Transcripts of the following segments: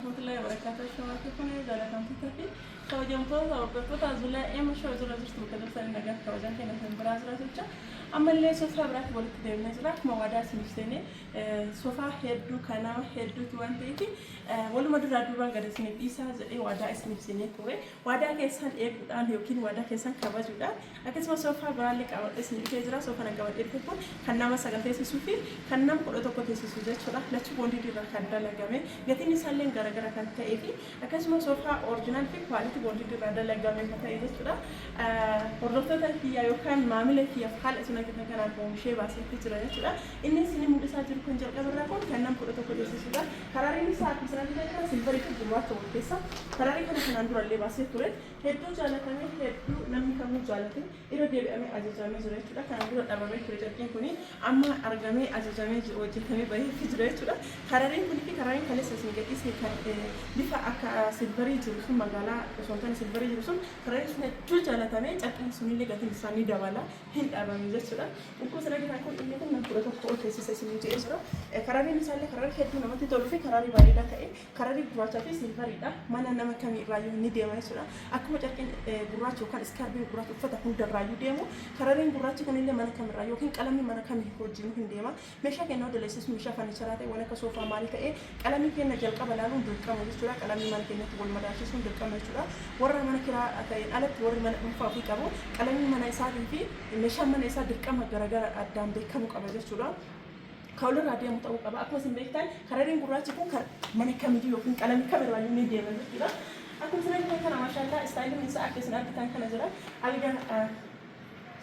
Rahmatullahi wabarakatuh Ashamaa fi kunee jaalatamtoota fi kabajamtoota hordoftoota Zulaa Eema Show jira jirtu bakka jirtan nagaa fi kabajaan keenya isin biraa jira jecha ammallee soofaa biraatti walitti deemnee jira akkuma waadaa isiniif seenee soofaa hedduu kan nama hedduuti waan ta'eef waluma duraa duubaan gad isiniif dhiisaa jedhee waadaa isiniif seenee ture Waadaa keessan eeguudhaan ykn waadaa keessan kabajuudhaan akkasumas soofaa biraallee qabadhee isin dhufee jira. Soofaan an qabadhee dhufe kun kan nama sagal teessisuu fi kan nam kudha tokko teessisu jechuudha. Lachuu boondiidii irraa kan dalagame gatiin isaalleen garagara kan ta'ee fi akkasuma soofaa orjinaal fi kuwaalitii boondiidii irraa dalagame kan ta'e jechuudha. Hordoftoota kiyya yookaan maamila kiyyaaf haala isin argitan kanaan oomishee baaseetti jira jechuudha. Inni isin mul'isaa jiru kan jalqaba irraa kun kan nam kudha tokko teessisuudha. Hararii Misaa akkuma sanatti beektan silvarii fi gurraacha wal keessa hararii kana kanaan dura illee baasee ture hedduu jaalatamee hedduu namni kamuu jaalate irra deebi'amee ajajaamee jira jechuudha kanaan dura dhabamee ture carqiin kun amma argamee ajajamee jiru hojjetamee baheetti jira jechuudha harariin kun fi harariin kaleessa isin gadhiisne kan bifa akka silvarii jiru sun magaalaa osoo hin taane silvarii jiru sun harariin sun hedduu jaalatamee carqiin sun illee gatiin isaa ni dabala hin dhabame jechuudha. Lakkoofsa daqiiqaa kun inni kun nama kudha tokko ol teessisa isiniin jedhee jira. Karariin isaallee kararii hedduu namatti toluu fi kararii bareedaa ta'e kararii gurraachaa fi silvariidha. Mana nama kamii irraayyuu ni deema jechuudha. Akkuma carqiin gurraacha yookaan iskaarbiin gurraacha uffata hundarraayyuu deemu karariin gurraachi kunillee mana kamirraa yookiin qalamni mana kamii hojiin hin deema. Meeshaa keenna hunda leessisuun meeshaa farnicharaa ta'e, waan akka soofaa maal ta'e, qalamii keenna jalqaba laaluun dirqama jechuu dha. Qalamii mana keenyatti wal madaalchisuun dirqama jechuu dha. Warra mana kiraa ta'een alatti warri mana dhuunfaa ofii qabu qalamiin mana isaatii fi meeshaan mana isaa dirqama garagara dha, addaan beekkamuu qaba jechuu dha. Ka wal irraa deemu ta'uu qaba. Akkuma isin beektan karariin gurraachi kun kar. mana kamiyyuu ykn qalamii kam irraa iyyuu ni deema jechuu dha. Akkuma isin argitan kana maashaallaa istaayiliin isaa akka isin argitan kana jira. Alga.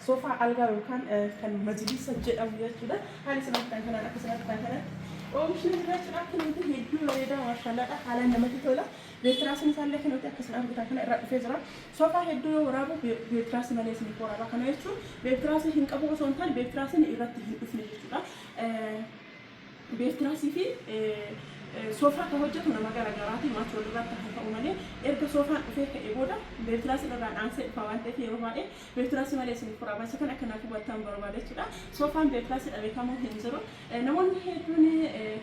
Soofaa algaa yookaan kan majilisa jedhamu jechuudha. Haala isin argitan kanaan akka isin argitan kanatti oomishni jira jechuudha. Akka namatti hedduu bareedaa maashaallaadha. Haalaan namatti tola. Beetiraasiin isaallee kan nuti akka isin argitan kana irraa dhufee jira. Soofaa hedduu yoo waraabu beetiraasii malee isiniif waraaba. Kana jechuun beetiraasii hin qabu osoo hin taane beetiraasiin irratti hin dhufne jechuudha. Beertiraasii fi Soofaa kan hojjatu nama gara garaati, maati wal irraatti haa ta'u malee. Erga Soofaan dhufee ka'ee booda Beertiraasiin irraan aansee dhufa waan ta'eef yeroo baay'ee Beertiraasii malee isiniif furaa baay'isa kana akka naaf hubattan barbaada jechuudha. Soofaan Beertiraasii dhabe kamuu hin jiru. Namoonni hedduun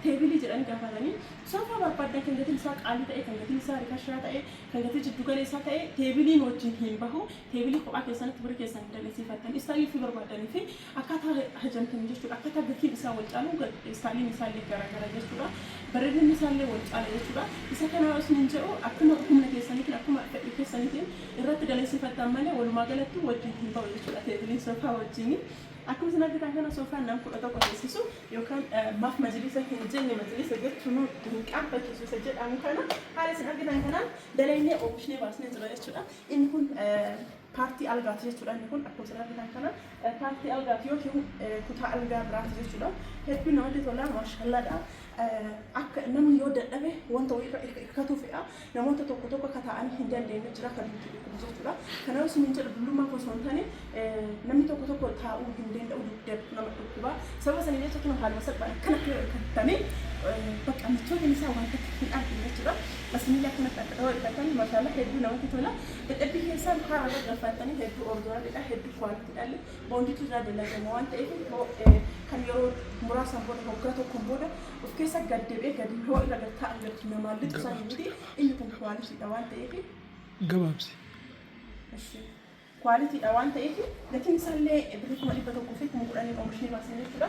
teebilii jedhanii gaafatanii soofaa barbaaddan kan gatiin isaa qaalii ta'e, kan gatiin isaa rikashaa ta'e, kan gatii jiddu galeessaa ta'e teebiliin wajjin hin bahu. Teebilii kophaa keessanitti birrii keessan hin dallansiifattan. Istaayilii ofii barbaaddanii fi Akkaataa hajamtan jechuudha. Akkaataa gatiin isaa wal caalu istaayiliin isaallee garaagara jechuudha. Bareedinni isaallee wal caala jechuudha. Isa kana yoo isiniin jedhu akkuma humna keessaniitiin akkuma fedhii keessaniitiin irratti daleessifattan malee walumaa galattuu wajjin hin ba'u jechuudha teebiliin soofaa wajjin. Akkuma isin argitan kana soofaan nam kudha tokko teessisu yookaan maaf majliisa hin jenne majliisa jechuun hin qaanfachiisu isa jedhamu kana haala isin argitan kanaan dalaynee oomishnee baasnee jira jechuudha. Inni kun Paartii algaati jechuudha inni kun akkuma asirratti kan kana paartii algaati yookiin kutaa algaa biraati jechuudha hedduu namatti tola maashallaadha akka namni yoo dadhabe wanta wayii irra hirkatu fe'a namoota tokko tokko akka taa'anii hin dandeenye jira kan nuti dhukkubu jechuudha kanaaf isin hin jedhu dullummaa osoo hin taane namni tokko tokko taa'uu hin danda'u dugdatu nama dhukkuba sababa sanii jecha kun haaluma salphaan akkana akka hirkatanii bakka michoonni isaa wanta hin argine jechuudha asinillee akkanatti akka ta'uu hirkatan maashaallaa hedduu namatti tola Dadhabbii keessaan karaa irra gaffaattanii hedduu ordoranidha, hedduu kwaalitidhalle boonditu irraa dalagama waan ta'eef yoo kan yeroo muraasaan booda hoggaa tokkoon booda of keessa gad deebi'ee gad yoo irra gad taa'an jirtu namaan lixu sanii miti inni kun kwaalitidha waan ta'eef gabaabsi. Kwaalitidha waan ta'eef gatiin isaallee birrii kuma dhibba tokkoo fi kuma kudhaniin oomishni baasne jechuudha.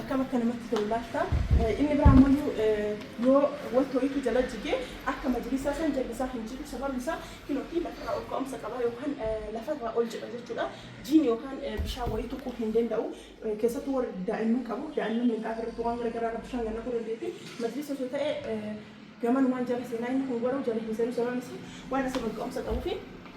akkam akka namatti tolu laattaa inni biraa ammoo yoo wanta wayiitu jala jigee akka majlisaa san jalli isaa hin jigu sababni isaa kinootii lafarraa ol ka'umsa qaba yookaan lafarraa ol jedha jechuudha jiin yookaan bishaan wayii tuquu hin danda'u keessattuu warri daa'imman qabu daa'imman minxaafa irratti waan garagaraa irra bishaan gannaquu dandeetti majlisa osoo ta'e gamanumaan jala seenaa inni kun garuu jala hin seenu sababni isaa waan asirra ol ka'umsa qabuu fi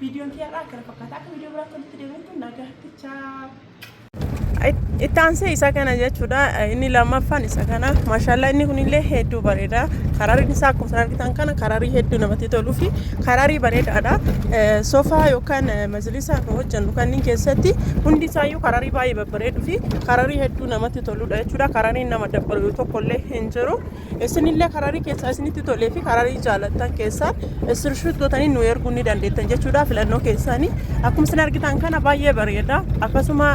Viidiyoon kiyya irraa akkana fakkaata. Akka viidiyoo biraatti walitti deebinutti nagaatti chaa. itti aansee isa kana jechuudha inni lammaffaan isa kana maashaallah inni kunillee hedduu bareeda karariin isaa akkuma isin argitan kana kararii hedduu namatti toluu fi kararii bareedaadha Eh, soofaa yookaan eh, majlisaa kan hojjennu kanneen keessatti hundi isaayyuu kararii baay'ee babbareeduu fi kararii hedduu namatti toludha jechuudha karariin nama dabbalu tokkollee hin jiru Isinillee kararii keessaa isinitti tolee fi kararii jaalattan keessaan iskirinshoot gootanii nu erguu ni dandeettan jechuudha filannoo keessaanii. Akkuma isin argitan kana baay'ee bareeda. Akkasuma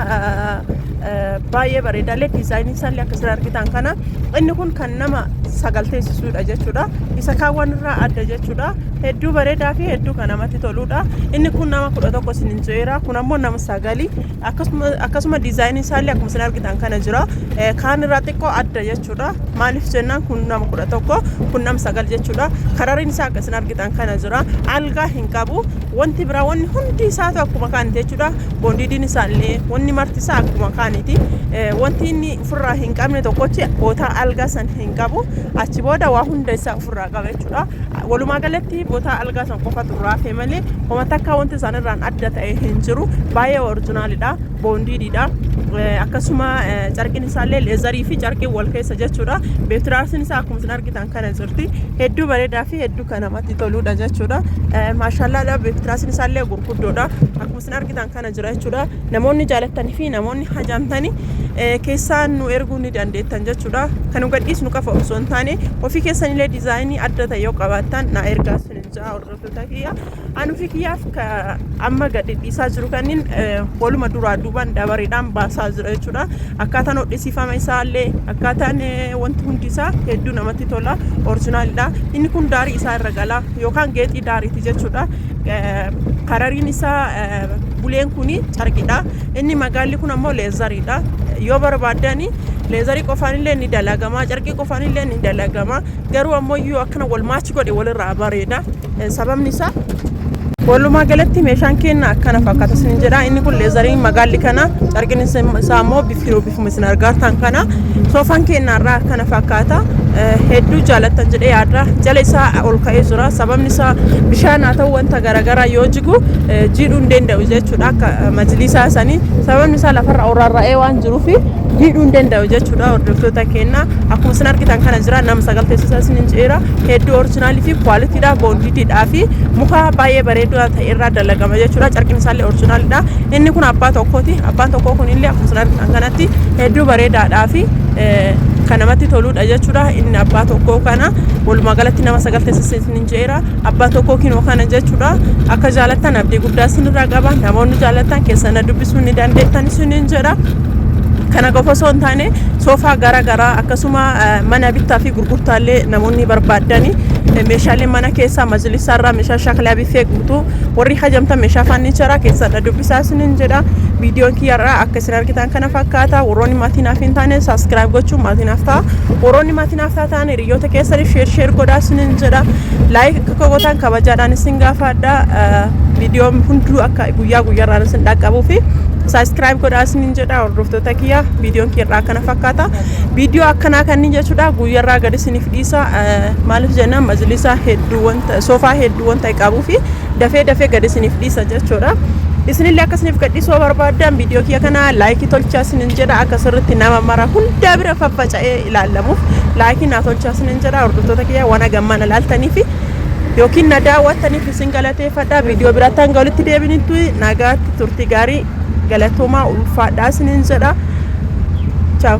baay'ee bareeda illee diizaayinii isaallee akka isin argitan kana inni kun kan nama sagal teessisuudha jechuudha. Isa kaawwan irraa adda jechuudha. Hedduu bareedaa fi hedduu kan namatti toluudha. Inni kun nama kudha tokko isin hin jeera. Kun ammoo nama sagali. Akkasuma akkasuma diizaayinii isaallee akkuma isin argitan kana jira. Eh, Kaan irraa xiqqoo adda jechuudha. Maaliif jennaan kun nama kudha tokko kun nama sagal jechuudha. Karariin isaa akka isin argitan kana jira. Algaa hin qabu. Wanti biraa wanni hundi isaatu akkuma kaaniti jechuudha. Boondiidiin isaallee wanni marti isaa akkuma kaaniti. Eh, Wanti inni ofirraa hin qabne tokkochi bootaa algaa san hin qabu. Achi booda waa hunda isaa ofirraa qaba jechuudha. Walumaa galatti botaa algaa san qofatu irraa hafe malee homa takka wanti isaan irraan adda ta'e hin jiru. Baay'ee orjinaalidha. Boondiididha. Akkasuma carqiin isaallee leezarii fi carqiin wal keessa jechuudha. Beetiraarsiin isaa akkuma isin argitan kana jirti. Hedduu bareedaa fi hedduu kan namatti toludha jechuudha. Maashaallaadha beetiraarsiin isaallee gurguddoodha. Akkuma Isin argitan kana jira jechuudha. Namoonni jaalattanii fi namoonni hajamtanii eh, keessaan nu erguu ni dandeettan jechuudha. Kan nu gadhiisnu qafa osoo hin taane ofii keessanillee diizaayinii adda ta'e yoo qabaattan na ergaa isin hin ja'a hordoftoota kiyya. An ofii kiyyaaf ka- amma gadhiisaa jiru kanniin eh, waluma duraa duubaan dabareedhaan baasaa jira jechuudha. Akkaataan hodhisiifama isaallee akkaataan eh, wanti hundi isaa hedduu namatti tola. Orjinaalidha. Inni kun daarii isaa irra gala yookaan geexii daariiti jechuudha. Karariin isaa buleen kun carqidha. Inni magaalli kun ammoo leezariidha. Yoo barbaadan leezarii qofaan illee ni dalagama, carqii qofaan illee ni dalagama. Garuu ammoo yoo akkana wal maachi godhe walirraa bareeda. Sababni isaa Walumaa galatti meeshaan keenya akkana fakkaata isin jedha. Inni kun leezariin magaalli kana carqin isaa immoo bifa Akkuma isin argaartan kana soofaan keenya irraa kana fakkaata. Hedduu jaalattan jedhee yaadra. Jala isaa ol ka'ee jira. Sababni isaa bishaan haa ta'u wanta garaagaraa yoo jigu jiidhuu hin danda'u jechuudha akka majlisaa sanii. Sababni isaa lafarra ol rarra'ee waan jiruuf jiidhuu hin danda'u jechuudha hordoftoota keenya. Akkuma isin argitan kana jira nama sagal teessisa isin hin jira. Hedduu orjinaalii fi kwaalitiidha boondiitiidhaa fi muka baay'ee bareedaa irraa dalagama jechuudha. Carqiin isaallee orjinaalidha. Inni kun abbaa tokkooti. Abbaan tokkoo kunillee akkuma isin argitan kanatti hedduu bareedaadhaa fi kan namatti toludha jechuudha. Inni abbaa tokkoo kana walumaa galatti nama sagal teessisa isinin jeera. Abbaa tokkoo kinoo kana jechuudha. Akka jaalattan abdii guddaa isinirraa qaba. Namoonni jaalattan keessan na dubbisuu ni dandeettan isinin jedha. Kana qofa osoo hin taane soofaa gara garaa akkasuma mana bittaa fi gurgurtaallee namoonni barbaaddanii meeshaalee mana keessaa majlisaarraa meeshaa shaklaa Kee guutuu warri hajamtan meeshaa faannicharaa keessaa na dubbisaa isinin jedha. Viidiyoon kiyyarraa akka isin argitan kana fakkaata. Warroonni maatii naaf hin taane saabskiraayib gochuun maatii naaf ta'a. Warroonni maatii naaf taatan hiriyoota keessaniif sheer sheer godhaa isinin jedha. Laayik akka koo gootan kabajaadhaan isin gaafadha. Viidiyoon hunduu akka guyyaa guyyaarraan isin dhaqqabuu fi saabskiraayib godhaa isinin jedha. Hordoftoota kiyya viidiyoon kiyyarraa akkana fakkaata. Viidiyoo akkanaa kanneen jechuudha guyyaarraa gad isiniif dhiisa. Maaliif jennaan majlisaa hedduu soofaa hedduu waan ta'e qabuu fi dafee dafee gad isiniif dhiisa jechuudha. Isinillee akka isiniif gadhiisu yoo barbaaddan viidiyoo kiyya kana laayikii tolchaa isinin jedha akka sirriitti nama mara hundaa bira faffaca'ee ilaallamuuf laayikii naa tolchaa isinin jedha hordoftoota kiyya waan hagammaan ilaaltanii fi yookiin na daawwattaniif isin galateeffadha viidiyoo biraatti hanga walitti deebinitti nagaatti turtii gaarii galatoomaa ulfaadhaa isinin jedha. Ciao.